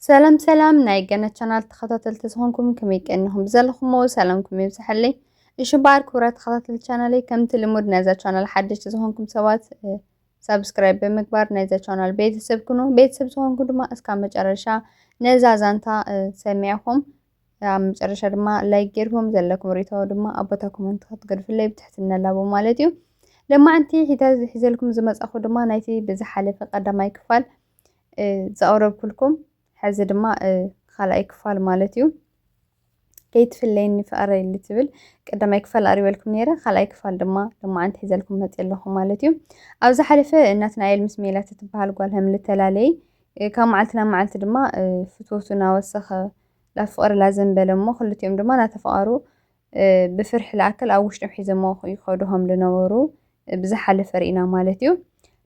ሰላም ሰላም ናይ ገነት ቻናል ተኸታተልቲ ዝኾንኩም ከመይ ቀኒኹም ብዘለኹሞ ሰላምኩም ይብዝሐለይ እሺ በዓል ክብረት ተኸታተልቲ ቻናለይ ከምቲ ልሙድ ናይዛ ቻናል ሓደሽቲ ዝኾንኩም ሰባት ሳብስክራይብ ብምግባር ናይዛ ቻናል ቤተሰብ ኩኑ ቤተሰብ ዝኾንኩ ድማ እስካብ መጨረሻ ነዛ ዛንታ ሰሚዕኹም ኣብ መጨረሻ ድማ ላይክ ጌርኩም ዘለኩም ርእቶ ድማ ኣብ ቦታ ኮመንት ክትገድፍለይ ብትሕትና ላቦ ማለት እዩ ለማዕንቲ ሒዘልኩም ዝመጻኹ ድማ ናይቲ ብዝሓለፈ ቀዳማይ ክፋል ዘቕረብኩልኩም ሕዚ ድማ ካልኣይ ክፋል ማለት እዩ ከይትፍለየኒ ፍቐረይ ልትብል ቀዳማይ ክፋል ኣሪበልኩም ነይረ ካልኣይ ክፋል ድማ ልማዓንቲ ሒዘልኩም መፅ ኣለኹ ማለት እዩ ኣብ ዝሓለፈ ናትናኤል ምስ ሜላት እትበሃል ጓል ሃም ልተላለይ ካብ መዓልቲ ናብ መዓልቲ ድማ ፍትወቱ እናወሰኸ ላብ ፍቕሪ ላዘንበለ እሞ ክልቲኦም ድማ ናተፈቓሩ ብፍርሒ ልኣክል ኣብ ውሽጦም ሒዘሞ ይኸዱሆም ልነበሩ ብዝሓለፈ ርኢና ማለት እዩ።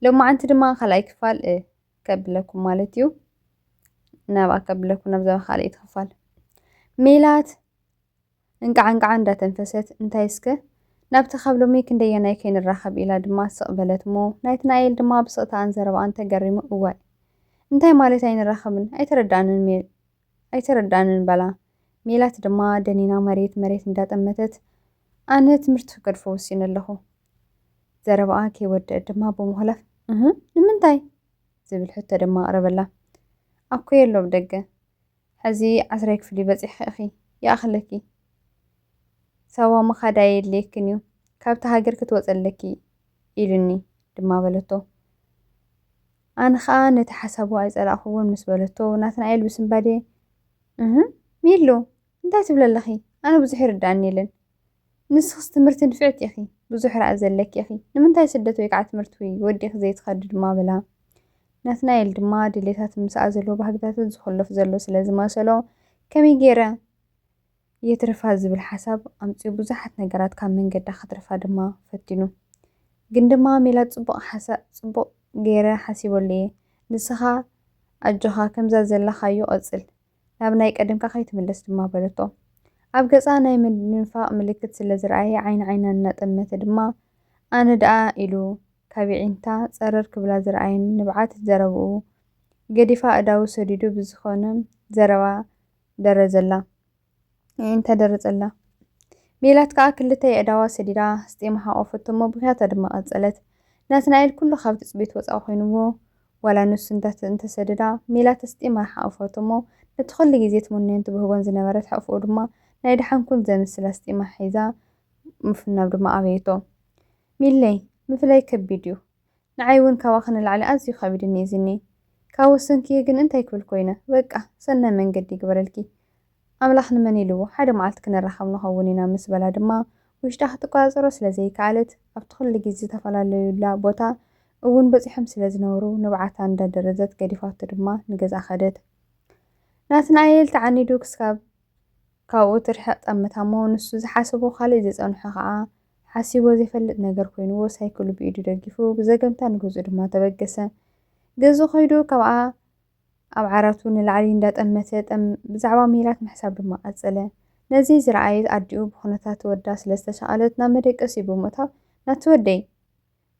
ሎማዓንቲ ድማ ካልኣይ ክፋል ከብለኩም ማለት እዩ። ናብኣ ከብለኩም ናብዛ ካልኣይቲ ክፋል ሜላት እንቃዕ እንቃዕ እንዳተንፈሰት እንታይ እስከ ናብቲ ካብ ሎሚ ክንደየናይ ከይንራኸብ ኢላ ድማ ስቕ በለትሞ ናይቲ ናኤል ድማ ብስቕታኣን ዘረባኣን ተገሪሙ እዋይ እንታይ ማለት ኣይንራኸብን ኣይተረዳኣንን ኣይተረድኣንን በላ። ሜላት ድማ ደኒና መሬት መሬት እንዳጠመተት፣ ኣነ ትምህርቲ ክገድፎ ወሲነ ኣለኹ። ዘረባኣ ከይወደኣት ድማ ብምኹላፍ፣ እህ! ንምንታይ? ዝብል ሕቶ ድማ ኣቕረበላ። ኣኮየ ኣሎ ኣብ ደገ። ሕዚ ዓስራይ ክፍሊ በጺሕኺ ኢኺ። ይኣኽለኪ። ሳዋ ምኻድ ኣየድልየክን እዩ። ካብታ ሃገር ክትወጺ ኣለኪ ኢሉኒ ድማ በለቶ። ኣነ ኸኣ ነቲ ሓሳቡ ኣይጸላእኩዎን ምስ በለቶ፣ ናትናኤል ብስንባደ፣ እህ! ሚሉ! እንታይ ትብሊ ኣለኺ? ኣነ ብዙሕ ይርድኣኒ የለን። ንስኽስ ትምህርቲ ንፍዕቲ ኢኺ፣ ብዙሕ ራእይ ዘለኪ ኢኺ፣ ንምንታይ ስደት ወይ ከኣ ትምህርቲ ወዲእኺ ዘይትኸዲ? ድማ በላ። ናትናኤል ድማ ድሌታትን ምስኣ ዘለዎ ባህግታትን ዝኹልፍ ዘሎ ስለ ዝመሰሎ፣ ከመይ ገይረ? የትርፋ ዝብል ሓሳብ ኣምጺኡ ብዙሓት ነገራት ካብ መንገዳ ከትርፋ ድማ ፈቲኑ ግን ድማ ሜላት ጽቡቅ ሓሳእ ጽቡቅ ገይረ ሓሲበሉ እየ ንስኻ ኣጆኻ ከምዛ ዘለኻዮ ቀጽል ናብ ናይ ቀደምካ ከይትምለስ ድማ በለቶ ኣብ ገጻ ናይ ምድንፋቅ ምልክት ስለ ዝረኣየ ዓይኒ ዓይና እናጠመተ ድማ ኣነ ደኣ ኢሉ ካብ የዒንታ ጸረር ክብላ ዝረኣየን ንብዓት ዘረብኡ ገዲፋ ኣእዳዉ ሰዲዱ ብዝኾነ ዘረባ ደረዘላ። እዒን ተደረጸላ። ሜላት ከኣ ክልተ የእዳዋ ሰዲዳ ኣስጢማ ሓቖፈቶ እሞ ብኽያታ ድማ ቀጸለት። ናትናኤል ኩሉ ካብ ትጽቢት ወጻኢ ኮይኑዎ ዋላ ንሱ እንዳት እንተሰደዳ ሜላት ኣስጢማ ሓቖፈቶ እሞ ነቲ ኩሉ ግዜ ትምነዮን ትብህጎን ዝነበረት ሕቕፍኡ ድማ ናይ ደሓን ኩን ዘምስል ኣስጢማ ሒዛ ምፍናው ድማ ኣበየቶ። ሚለይ! ምፍላይ ከቢድ እዩ። ንዓይ ውን ካባኺ ንላዕሊ ኣዝዩ ከቢድኒ እዩ ዝኒኤ ካብ ወሰንክዬ ግን እንታይ ክብል ኮይነ በቃ ሰናይ መንገዲ ይግበረልኪ ኣምላኽ ንመን ኢልዎ ሓደ መዓልቲ ክንራኸብ ንኸውን ኢና ምስ በላ ድማ ውሽጣ ክትቆጻጸሮ ስለ ዘይከኣለት ኣብቲ ኩሉ ግዜ ዝተፈላለዩላ ቦታ እውን በጺሖም ስለ ዝነበሩ ንብዓታ እንዳደረዘት ገዲፋቶ ድማ ንገዝኣ ከደት ናትናኤል ተዓኒዱ ክስካብ ካብኡ ትርሕቕ ጠምታሞ ንሱ ዝሓሰቦ ካልእ ዝጸንሖ ከኣ ሓሲቦ ዘይፈልጥ ነገር ኮይንዎ ሳይክሉ ብኢዱ ደጊፉ ብዘገምታ ንገዝኡ ድማ ተበገሰ። ገዝኡ ከይዱ ካብኣ ኣብ ዓራቱ ንላዕሊ እንዳጠመተ ጠም ብዛዕባ ሜላት ምሕሳብ ድማ ቀጸለ። ነዚ ዝረኣየት ኣዲኡ ብኹነታት ወዳ ስለ ዝተሻቐለት ናብ መደቀሲኡ ብምእታው ናቲ ወደይ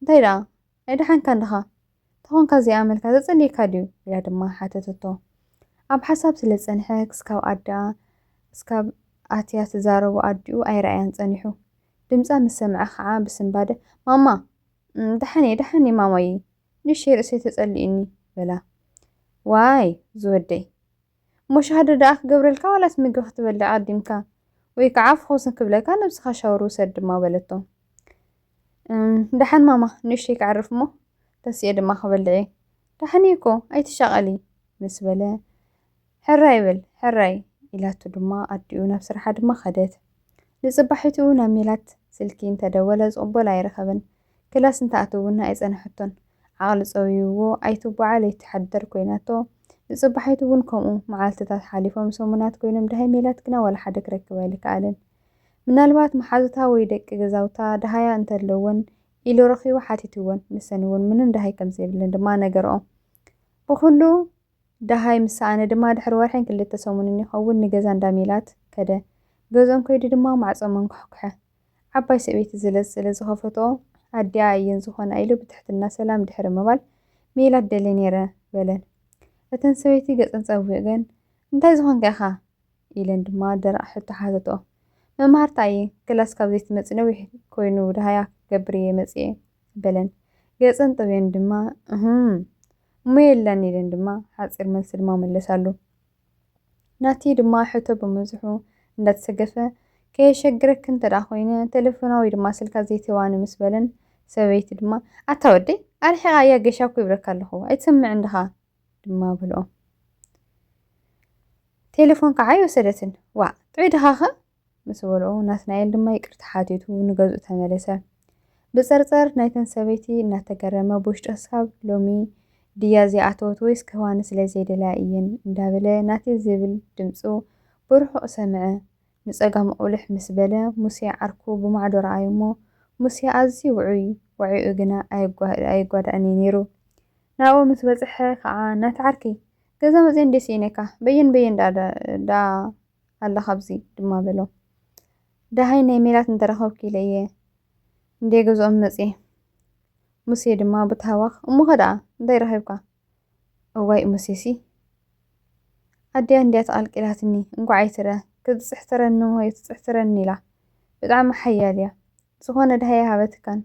እንታይ ደኣ ኣይደሓንካን ድኻ? ተኾንካ ዘይኣመልካ ዘጸልየካ ድዩ? ኢላ ድማ ሓተተቶ። ኣብ ሓሳብ ስለ ዝጸንሐ ክስካብ ኣደኣ ክስካብ ኣትያ ትዛረቦ ኣዲኡ ኣይረኣያን ጸኒሑ። ድምጻ ምስ ሰምዐ ከኣ ብስንባደ ማማ! ደሓን'የ ደሓን'የ ማማየይ! ንእሸተይ ርእሰይ ተጸሊኡኒ! በላ። ዋይ ዝወደይ! እሞ ሻህዶ ደኣ ክገብረልካ ዋላስ ምግቢ ክትበልዕ ኣዲምካ ወይ ከዓ ፍኹስ ክብለካ ነብስኻ ሻወር ውሰድ ድማ በለቶ። እም ደሓን ማማ ንእሽተይ ክዕርፍ እሞ ተሲኤ ድማ ክበልዕ እየ። ደሓን እየ እኮ ኣይትሻቐሊ ምስ በለ ሕራይ በል ሕራይ ኢላቱ ድማ ኣዲኡ ናብ ስራሓ ድማ ከደት። ንፅባሒቱ ናብ ሜላት ስልኪ እንተደወለ ዝቕበሎ ኣይረኸበን። ክላስ እንተኣትው እውን ኣይጸንሐቶን። ዓቕሊ ጸውዩዎ ኣይትጓዓል ኣይትሓደር ኮይናቶ። ንጽባሒቱ እውን ከምኡ። መዓልትታት ሓሊፎም ሰሙናት ኮይኖም ደሃይ ሜላት ግና ዋላ ሓደ ክረክብ ኣይልከኣለን። ምናልባት መሓዙታ ወይ ደቂ ገዛውታ ደሃያ እንተ ኣለወን ኢሉ ረኺቡ ሓቲቱወን። ንሰን እውን ምንም ደሃይ ከም ዘይብለን ድማ ነገርኦ። ብኹሉ ደሃይ ምስ ሰኣነ ድማ ድሕሪ ወርሕን ክልተ ሰሙንን ይኸውን ንገዛ እንዳ ሜላት ከደ። ገዝኦም ከይዱ ድማ ማዕጾ መንኳሕኵሐ። ዓባይ ሰበይቲ ዝለዝ ስለ ዝኸፈትኦ፣ ኣዲኣ እየን ዝኾና ኢሉ ብትሕትና ሰላም ድሕሪ ምባል፣ ሜላት ደልየ ነይረ በለን። እተን ሰበይቲ ገጸን ጸዊገን፣ እንታይ ዝኾንካ ኢኻ? ኢለን ድማ ደረቕ ሕቶ ሓተትኦ። መማህርታ እየ፣ ክላስ ካብ ዘይትመጺ ነዊሕ ኮይኑ ደሃያ ክገብር እየ መጺኤ በለን። ገጸን ጠውየን ድማ፣ እህም! እሞ የለን ኢለን ድማ ሓጺር መልሲ ድማ መለሳሉ። ናቲ ድማ ሕቶ ብምብዝሑ እንዳተሰገፈ፣ ከየሸግረኪ እንተድኣ ኮይነ ተለፎና ወይ ድማ ስልካ ዘይትህባኒ ምስ በለን፣ ሰበይቲ ድማ፣ ኣታ ወደይ ኣርሒቓያ ጌሻ እኮ ይብለካ ኣለኹ ኣይትሰምዕን ድኻ ድማ በልኦ። ቴለፎን ከዓ ኣይወሰደትን። ዋእ ጥዑይ ድኻኸ ምስ በልኦ፣ ናትናኤል ድማ ይቅርታ ሓቲቱ ንገዝኡ ተመለሰ። ብጸርጸር ናይተን ሰበይቲ እናተገረመ ብውሽጡ ክሳብ ሎሚ ድያ ዘይኣተወት ወይስ ክህባኒ ስለ ዘይደለያ እየን እንዳበለ ናተይ ዝብል ድምጹ ብርሑቕ ሰምዐ። ንጸጋሙ ቁሊሕ ምስ በለ ሙሴ ዓርኩ ብማዕዶ ረኣዮ'ሞ ሙሴ ኣዝዩ ውዑይ ዋዒኡ ግና ኣይጓዳእን እዩ ነይሩ። ናብኡ ምስ በጽሐ ከኣ ናቲ ዓርከይ! ገዛ መጺኤ እንድየ ስኢነካ! በየን በየን ደኣ ደኣ! ኣለኻ ኣብዚ ድማ በሎ። ደሃይ ናይ ሜላት እንተረኸብኩ ኢለ እየ እንዴ ገዝኦም መጽየ። ሙሴ ድማ ብታህዋኽ እሞኸ ደኣ እንታይ ረኺብካ? እዋይ ሙሴሲ ኣዲኣ እንድያ ተቐልቂላትኒ እንኳዕ ኣይትረ ክትጽሕትረኒ እሞ የትጽሕትረኒ ኢላ ብጣዕሚ ሓያል እያ። ዝኾነ ደሃይ ኣይሃበትካን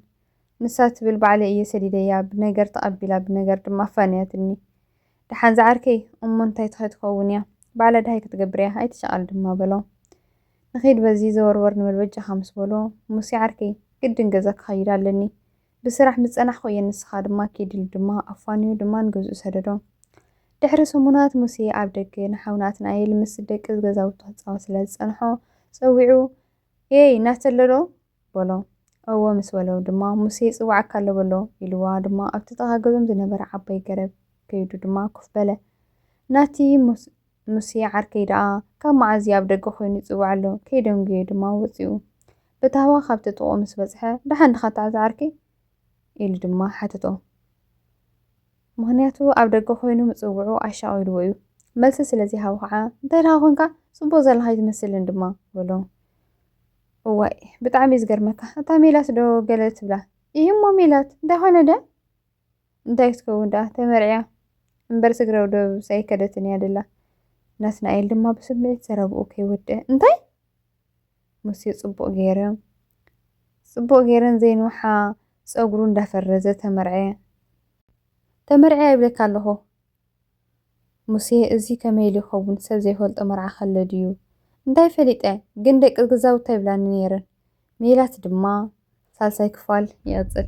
ንሳ ትብል ባዕለይ እየ ሰዲደያ ብነገር ተቐቢላ ብነገር ድማ ኣፋንያትኒ። ደሓን ዝዓርከይ እሞ እንታይ ትኸትከውን እያ ባዕላ ደሃይ ክትገብር እያ ኣይትሻቐል ድማ በሎ። ንኺድ በዚ ዘወርወር ንበል በጃኻ ምስ በሎ ሙሴ ዓርከይ ግድን ገዛ ክኸይድ ኣለኒ ብስራሕ ምስ ጸናሕኩ እየ ንስኻ ድማ ኪድ ኢሉ ድማ ኣፋንዩ ድማ ንገዝኡ ሰደዶ። ድሕሪ ሰሙናት ሙሴ ኣብ ደገ ንሓው ናትናኤል ምስ ደቂ ገዛውቱ ክጻወት ስለ ዝጸንሖ ጸዊዑ ኤይ ናተለዶ በሎ። እወ ምስ በሎ ድማ፣ ሙሴ ይጽውዓካ ኣሎ በሎ። ኢልዋ ድማ ኣብቲ ጥቓ ገዞም ዝነበረ ዓባይ ገረብ ከይዱ ድማ ኮፍ በለ። ናቲ ሙሴ ዓርከይ ደኣ ካብ መዓዝ እዩ ኣብ ደገ ኮይኑ ይጽውዕ ኣሎ? ከይደንጉየ ድማ ወጺኡ። ብታህዋ ካብቲ ጥቕኡ ምስ በጽሐ፣ ደሓን ድኻ ታሕዚ ዓርከይ? ኢሉ ድማ ሓተቶ። ምኽንያቱ ኣብ ደገ ኮይኑ ምጽውዑ ኣሻቒልዎ እዩ። መልሲ ስለ ዘይሃቦ ኸኣ፣ እንታይ ደኻ ኮንካ? ጽቡቕ ዘለኻ ኣይትመስልን ድማ በሎ። እዋይ ብጣዕሚ እዩ ዝገርመካ እታ ሜላት ዶ ገለ ትብላ እዩሞ ሜላት እንዳኾነ ደ እንታይ ክትከውን ደኣ ተመርዕያ እምበር ስግረው ደብ ሳይከደትን እያ ደላ ናትናኤል ድማ ብስምዒት ዘረብኡ ከይወድአ እንታይ ሙሴ ጽቡቕ ገይረ ጽቡቕ ገይረን ዘይንውሓ ጸጉሩ እንዳፈረዘ ተመርዐ ተመርዐ ይብለካ ኣለኹ ሙሴ እዚ ከመይ ኢሉ ይኸውን ሰብ ዘይፈልጦ መርዓ ከሎ ድዩ እንታይ ፈሊጠ ግን ደቂ ገዛውታ ይብላኒ ነይረን ሜላት ድማ ሳልሳይ ክፋል ይቕጽል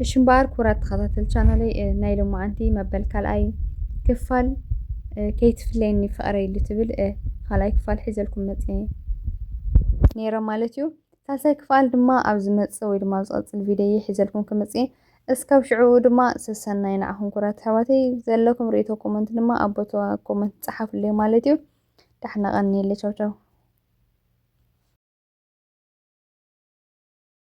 እሺ እምበኣር ክቡራት ተኸታተል ቻናለይ ናይ ሎማዓንቲ መበል ካልኣይ ክፋል ከይትፍለየኒ ፍቕረይ ኢሉ ትብል ካልኣይ ክፋል ሒዘልኩም መጽየ ነይረ ማለት እዩ ሳልሳይ ክፋል ድማ ኣብ ዝመጽእ ወይ ድማ ኣብ ዝቐጽል ቪድዮ ሒዘልኩም ክመጽእ እስካብ ሽዑኡ ድማ ሰሰናዩ ንዓኹም ኩራት ኣሕዋተይ ዘለኩም ሪኢቶ ኮመንት ድማ ኣብ ቦታ ኮመንት ጸሓፍለይ ማለት እዩ ዳሕና ቀንየለይ ቻው ቻው